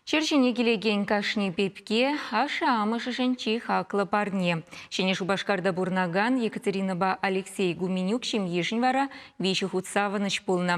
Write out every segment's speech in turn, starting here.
Ҫӗр ҫине килекен кашни пепке ашшӗ-амӑшӗшӗн чи хаклӑ парне. Ҫӗнӗ Шупашкарта пурӑнакан Екатеринӑпа Алексей Гуменюк ҫемйишӗн вара виҫӗ хут савӑнӑҫ пулнӑ.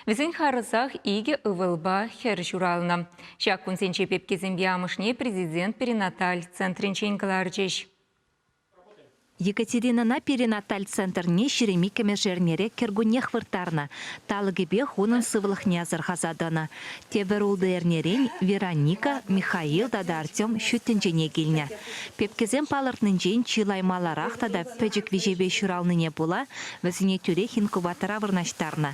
Вӗсен харӑсах икӗ ывӑлпа хӗр ҫуралнӑ. Ҫак кунсенче пепкесемпе амӑшне президент перинаталь центрӗнчен кӑларчӗҫ. Екатеринӑна перинаталь центрне ҫирӗм иккӗмӗш эрнере кӗркуннех вырттарнӑ. Талӑкӗпех унӑн сывлӑхне асӑрхаса тӑнӑ. Тепӗр ултӑ эрнерен Вероника, Михаил тата Артем ҫут тӗнчене килнӗ. Пепкесем палӑртнинчен чылай маларах тата пӗчӗк виҫепе ҫуралнине пула вӗсене тӳрех инкубатора вырнаҫтарнӑ.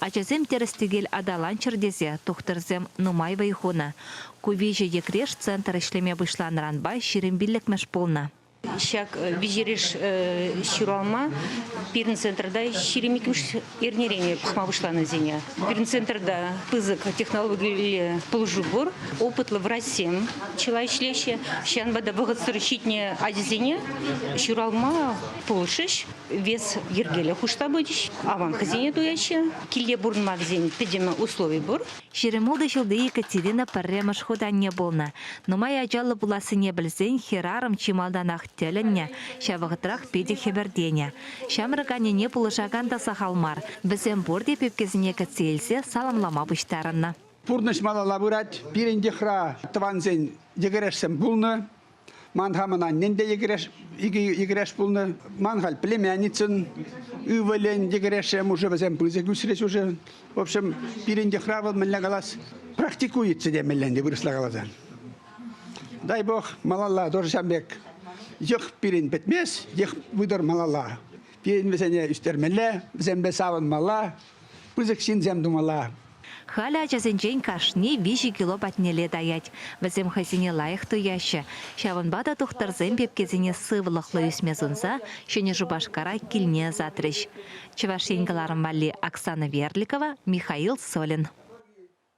Ачасем тӗрӗс-тӗкел аталанччӑр тесе тухтӑрсем нумай вӑй хунӑ. Ку виҫӗ йӗкреш центр ӗҫлеме пуҫланӑранпа ҫирӗм пиллӗкмӗш пулнӑ. Ҫак виҫӗреш ҫуралма пирӗн центрта ҫирӗм иккӗмӗш эрнерен пӑхма пуҫланӑсене. Пирӗн центрта пысӑк технологиллӗ пулӑшу пур. Опытлӑ врачсем чылай ӗҫлеҫҫӗ. Ҫавӑнпа та вӑхӑтсӑр ҫитнӗ ачасене ҫуралма пулӑшӗҫ. Вес йӗркеллӗ хушса пычӗҫ. Аванкӑсене туяҫҫӗ. Килте пурӑнма вӗсен пӗтӗм услови пур. Ҫирӗм ултӑ ҫулти Екатерина пӗрремӗш хут анне пулнӑ. Нумай ачаллӑ пулассине пӗлсен хӗрарӑм чи малтанах тӗлӗннӗ, ҫав вӑхӑтрах питӗ хӗпӗртенӗ. Ҫамрӑк аннене пулӑшакан та сахал мар. Вӗсем пурте пепкесене кӗтсе илсе саламлама пуҫтарӑннӑ. Пурнӑҫ малалла пырать. Пирӗн йӑхра тӑвансен йӗкӗрешсем пулнӑ. Ман хамӑн аннен те йӗкӗреш, икӗ йӗкӗреш пулнӑ. Ман халь племянницӑн ывӑлӗн йӗкӗрешӗ мушӑ вӗсем пысӑк ӳсрӗҫ уже. В общем, пирӗн йӑхра вӑл мӗнле калас, практикуется темелле ӗнтӗ вырӑсла каласан. Дай бог малалла тоже ҫан пек йӑх пирӗн пӗтмест, йӑх вытӑр малалла. Пирӗн вӗсене ӳстермелле, вӗсемпе савӑнмалла, пысӑк ҫынсем тумалла. Халӗ ачасенчен кашни виҫӗ кило патнелле таять. Вӗсем хӑйсене лайӑх туяҫҫӗ. Ҫавӑнпа та тухтӑрсем пепкесене сывлӑхлӑ ӳсме сунса Ҫӗнӗ Шупашкара килне ӑсатрӗҫ. Чӑваш Ен кӑларӑм валли Оксана Верликова, Михаил Солин.